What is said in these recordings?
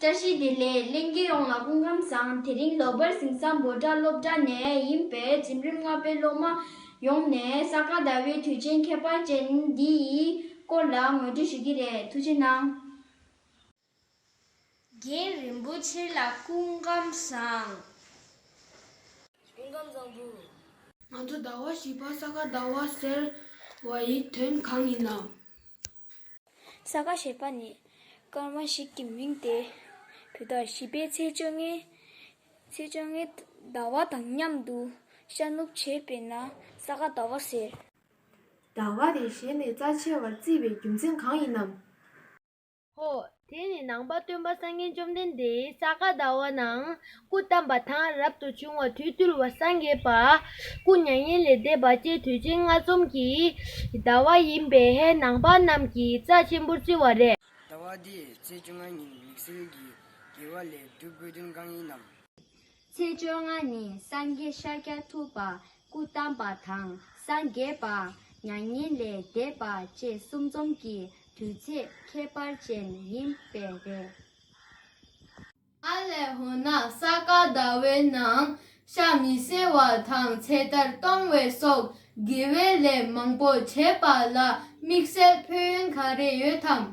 བཀྲ་ཤིས་བདེ་ལེགས་གླིང་དགེ་ཡོངས་ལ་སྐུ་ཁམས་བཟང་དེ་རིང་ལོ་པར་ཟིང་ས་འབོ་སྦྲ་སློབ་གྲྭ་ནས་ཡིན་པས་འཛིམ་རིམ་ལྔ་པའི་སློབ་མ་ཡོངས་ནས་ས་ག་ཟླ་བའི་དུས་ཆེན་ཁྱད་པར་ཅན་འདི་ཡི་སྐོར་ལ་ངོས་འབྲི་ཞུ་གི་རེད་ཐུགས་ཆེ་གནང། རྒན་རིན་པོ་ཆེ་ལ་སྐུ་ཁམས་བཟང། སྐུ་ཁམས་བཟང་བུ། ང་ཚོ་ཟླ་བ་བཞི་པ་ས་ག་ཟླ་བ་ཟེར་བ་ཡི་དོན་གང་ཡིན་ནམ། ས་ག་ཞེས་པ་ནི་སྐར་མ་ཞིག་གི་མིང་སྟེ། དུས་དང་བཞི་པའི་ཚེས་བཅོ་ལྔའི་ཚེས་བཅོ་ལྔའི་ཟླ་བ་དང་མཉམ་དུ་ཤར་ནུབ་བྱེད་པས་ན་ས་ག་ཟླ་བ་ཟེར། ཟླ་བ་དེ་གཞན་ནས་རྩ་ཆེ་བར་བརྩིས་པའི་རྒྱུ་མཚན་གང་ཡིན་ནམ། ཧོ། དེ་ནས་ནང་པ་སྟོན་པ་སངས་རྒྱས་བཅོམ་ལྡན་འདས་ས་ག་ཟླ་བ་ན་སྐུ་བལྟམས་པ་དང་རབ་ཏུ་བྱུང་བ་དུས་བརྟུལ་བ་སངས་རྒྱས་པ་སྐུ་མྱ་ངན་ལས་འདས་པ་བཅས་དུས་ཆེན་ལྔ་འཛོམས་ཀྱི་ཟླ་བ་ཡིན་པས་ནང་པ་རྣམས་ཀྱིས་རྩ་ཆེན་པོར་བརྩི་བ་རེད། ཟླ་བ་འདིའི་ཚེས་བཅོ་ལྔའི་ཉིན་མིག་སེར་གྱི་དགེ་བ་ལས་སྒྲུབ་དགོས་དོན་གང་ཡིན་ནམ། ཚེས་བཅོ་ལྔ་ནི་སངས་རྒྱས་ཤཱཀྱ་ཐུབ་པ་སྐུ་བལྟམས་པ་དང་སངས་རྒྱས་པདྨ་མྱ་ངན་ལས་འདས་པ་བཅས་གསུམ་འཛོམས་ཀྱི་དུས་ཚེས་ཁྱད་པར་ཅན་ཡིན་པས་རེད། ཨ་ལས་ཧོ་ན་ས་ག་ཟླ་བའི་ནང་ཤ་མི་བསྲེ་བ་དང་ཚེ་ཐར་གཏོང་བའི་སོགས་དགེ་བའི་ལས་མང་པོ་བྱས་པ་ལ་དམིགས་བསལ་ཕུལ་ཡོན་ག་རེ་ཡོད་དམ།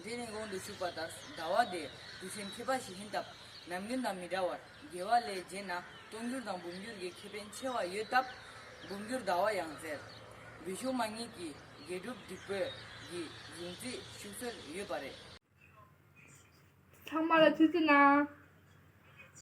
འདི་ནི་གོང་དུ་ཞུས་པ་ལྟར་ཟླ་བ་འདིའི་དུས་ཆེན་མཁས་པ་ཞིག་ཡིན་སྟབས་ཉམས་མགོན་དང་མི་འདྲ་བར་དགེ་བ་ལས་རྗེས་ན་སྟོང་འགྱུར་དང་འབུམ་འགྱུར་གྱི་ཁེ་ཕན་ཆེ་བ་ཡོད་སྟབས་འབུམ་འགྱུར་ཟླ་བ་ཡང་ཟེར། བི་ཤུ་མ་གཉིས་ཀྱི་དགེ་སྒྲུབ་སྒྲིག་བཀོད་ཀྱི་གཞུང་ཚིག་བཞུགས་སྲོལ་ཡོད་པ་རེད། ཚང་མ་ལ་ཚིག་བརྩི་གནང།